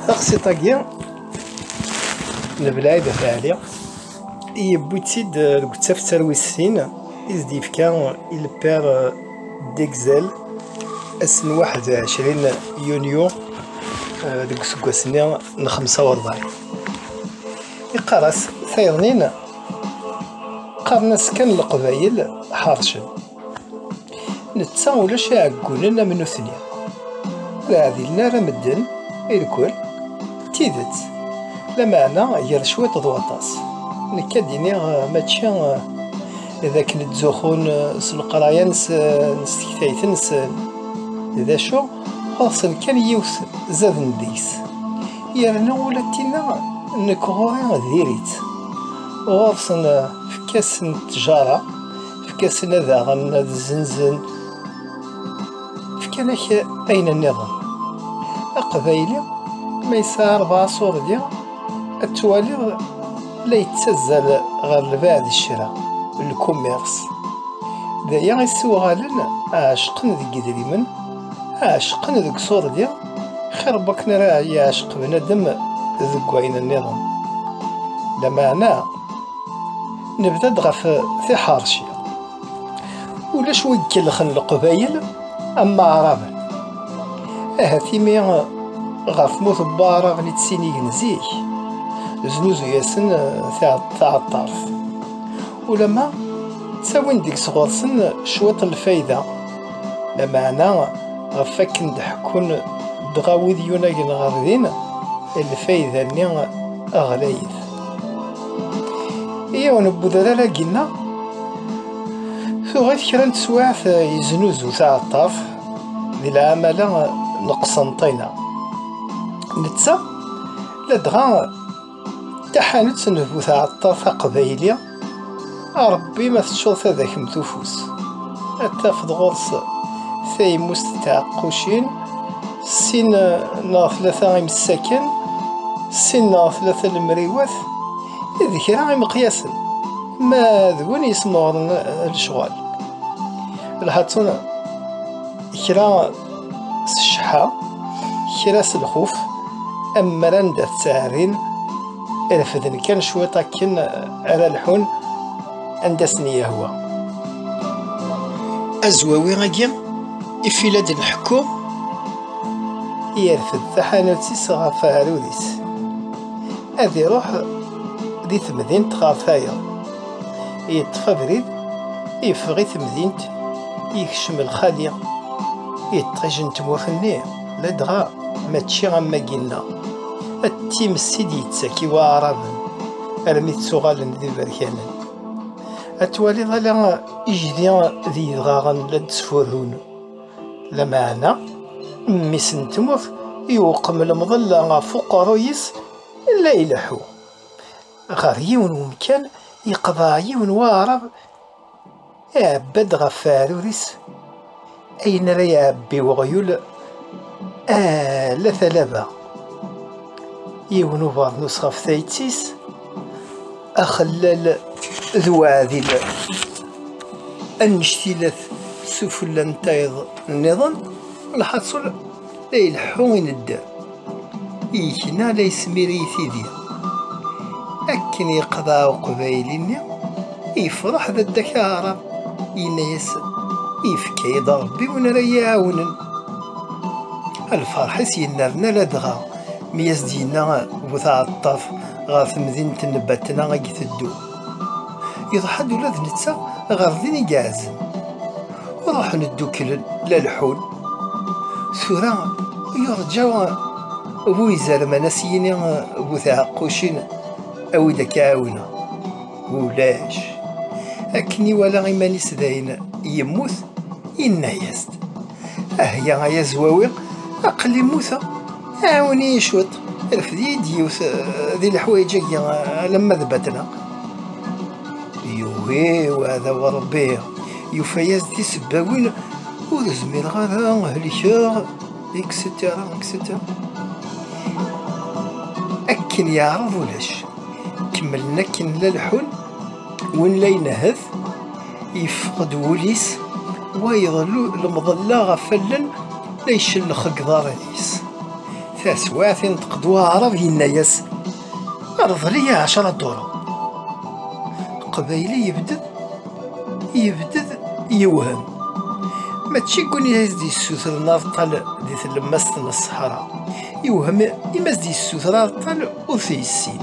taxi-agi n Belɛid At Ɛli yewwi-tt-id deg uttafsar wis sin i s-d-yefka i le père d'Exel ass n 21 yunyu deg useggas-nni n 45 Iqaras tayeḍnin qqaren-as kan leqbayel ḥarcen netta ulac iɛeggunen am nutni ur ɛdilen ara medden irkul d tidet lameɛna gar cwiṭ d waṭas nekk ad d-iniɣ eh, mačči eh, d akken ttzuxun eh, s leqraya-nsen s tektayt-nsen d acu ɣur-sen kan yiwet zaden deg-s Yerna ula d tinna nekk ɣur-i diri-tt. Ɣur-sen efk-asen ttjara, efk-asen ad aɣen, ad zzenzen, fkan-ak ayen nniḍen. Aqbayli ma yesɛa rebɛa ṣurdi ad twaliḍ la yettazzal ɣer lbaɛd d ccra, le commerce. D aya i s-uɣalen ɛecqen deg yedrimen, ɛecqen deg ṣurdi. xir bakken ara yeɛceq bnadem deg wayen nniḍen lameɛna nebda-d ɣef tiḥerci ulac wi ikellxen leqbayel am maɛraben ahat imi ɣef mut n waɛraben i ttinigen zik znuzu-yasen taɛeṭṭart ulama ttawin deg-s ɣur-sen cwiṭ n lfayda Lameɛna, ɣef wakken d-ḥekkun dɣa wid yunagen ɣer din, lfayda-nni ɣlayet. Yiwen n udrar agi-nneɣ, tuɣ-it kra n teswiɛt yeznuzu taɛeṭṭaft di lɛamala n Qsenṭina. Netta, ladɣa, Taḥanut n bu tɛeṭṭaf aqbayli, a Ṛebbi ma teččuḍ tadakemt ufus, ad tafeḍ ɣur-s taymust n tɛeqqucin, sin neɣ tlata imessaken, sin neɣ tlata lemriwat, d kra imeqyasen, ma d win yesmeɣren lecɣal. Lhaţun kra s cceḥḥa kra s lxuf am mer anda ttɛerrin refden kan cwiṭ akken ara lḥun anda sen-yehwa azwawi-agi ifila d nḥekku yerfed taḥanut-is ɣef aɛrur-is ad iruḥ di temdint ɣer tayeḍ Yeṭṭef abrid, yeffeɣ i temdint, yekcem lxali. Iṭij n tmurt-nni, ladɣa mačči am wagi-nneɣ. Ad times i d-yettak i waɛraben, armi ttuɣalen d iberkanen. Ad twaliḍ ala ijdi d yidɣaɣen la d-ttfurrun. Lameɛna, mmi-s n tmurt, yewqem lemḍella ɣef uqerruy-is, la ileḥḥu. Ɣer yiwen wemkan, yeqḍeɛ yiwen waɛrab, iɛebba-d ɣef weɛrur-is ayen ara iɛebbi weɣyul ala talaba, yiwen ubeṛnus ɣef tayet-is, axellal d uɛdil annect ilat sufella n tayeḍ nniḍen, lḥaṣul, La ileḥḥu i nedder, yekna la yesmiri i tidi. Akken yeqḍeɛ uqbayli-nni, yefreḥ d Dda Kaɛrab, yenna-yas, Yefka-yi-d Rebbi win ara yi-iɛawnen. Lferḥ-is yennerna ladɣa mi as-d-yenna bu tɛeṭṭaft ɣer temdint n Batna i iteddu. Iḍḥa-d ula d netta ɣer din i iɛezen. Ruḥen ddukklen la leḥḥun. Tura yurǧa bu izerman a s-yini bu tɛeqqucin awi-d ad k-ɛawneɣ. Ulac. Akken iwala iman-is dayen yemmut, yenna-yas-d. Ahya ay azwawi, aql-i mmuteɣ. Ɛawen-iyi cwiṭ, rfed-iyi-d yiwet eh, di leḥwayeǧ-agi eh, alamma d batneɣ. Yugi uɛdaw a Rebbi, yufa-yas-d tisebbawin, ur zmireɣ ara helkeɣ, etc. etc. Akken yeɛreḍ ulac, kemmlen akken la leḥḥun, win la inehhet, Yeffeq-d wul-is, wayeḍ lemḍella ɣef allen la icellx deg iḍarren-is. Taswiɛt, inṭeq-d waɛrab yenna-yas, Rḍel-iyi ɛecra duru. Aqbayli yebded, yebded yewhem. Mačči deg win i as-d-yessutren areṭṭal di tlemmast n ṣṣeḥra, yewhem imi as-d-yessuter areṭṭal ur t-yessin.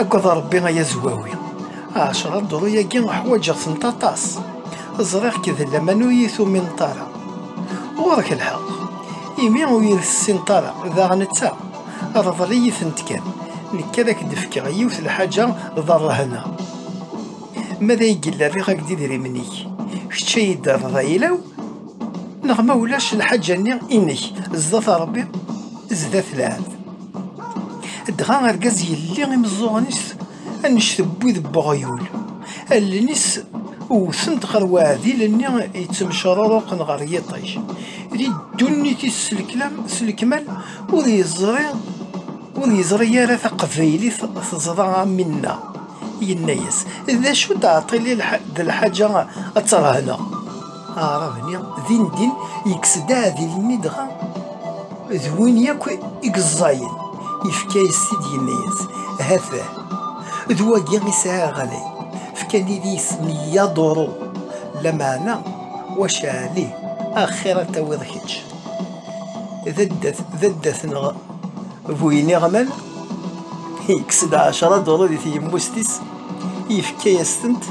Agad a Ṛebbi ay azwawi. Ɛecṛa ddṛu-agi ḥwaǧeɣ-tent aṭas. Ẓriɣ-k d laman ur iyi-tumineḍ ara. Ɣuṛ-k lḥeɣ. Imi ur iyi-tessineḍ ara, daɣen d ta. Ṛḍel-iyi-tent kan. Nekk ad ak-d-fkeɣ yiwet lḥaǧa d ṛṛehna. Ma d ay yella rriɣ-ak-d idrimen-ik. Kečč a yi-d-terreḍ ayla-w, neɣ ma ulac lḥaǧa-nni inek, zdat Ṛebbi, zdat lɛebd. Dɣa argaz yelli imeẓẓuɣen-is annect n wid n weɣyul, allen-is wwtent ɣer weɛdil-nni yettemcruruqen ɣer yiṭij. Di ddunit-is s lekmal ur yeẓri ur yeẓri ara taqbaylit teẓra am winna. Yenna-yas, D acu d aɛṭil d lḥaǧa ad terhneɣ? Aɛrab-nni, dindin, yekkes-d aɛdil-nni dɣa d win yakk i yeẓẓayen, yefka-yas-t-id yenna-yas, Hafeh, d wagi i sɛiɣ ɣlay, fkan-id isem i yaḍuru, lameɛna wacaɛli, axir ad tawiḍ kečč d addat-nneɣ bu yiniɣman, yekkes-d ɛecra duru di tyemmust-is, yefka-yas-tent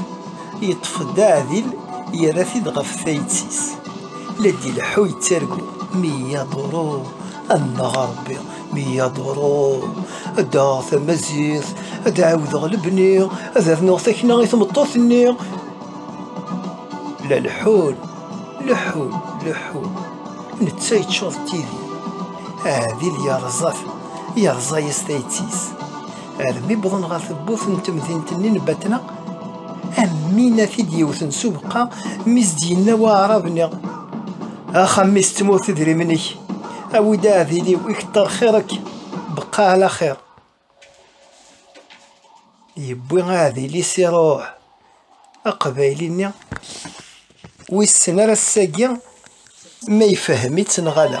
Yeṭṭef-d aɛdil yerra-t-id ɣef tayet-is. La d-ileḥḥu yettargu. Miyya Duru, annaɣ a Rebbi, Miyya Duru, ad d-aɣeɣ tamaziɣt, ad d-ɛawdeɣ lebni, ad rnuɣ takna i tmeṭṭut-nni. La leḥḥun, leḥḥun, leḥḥun. Netta yeččur d tidi. Aɛdil yerẓa-t, yerẓa-yas tayet-is. Armi wwḍen ɣer tewwurt n temdint-nni n Batna, am win a t-id-yewwten s ubeqqa, mi s-d-yenna waɛrab-nni, Axxam-is d tmurt idrimen-ik, awi-d aɛdil-iw i keṭṭer xir-ek, beqqa ɛla xir. Yewwi aɛdil-is iruḥ, aqbayli-nni wissen ar ass-agi ma ifehhem-itt neɣ ala.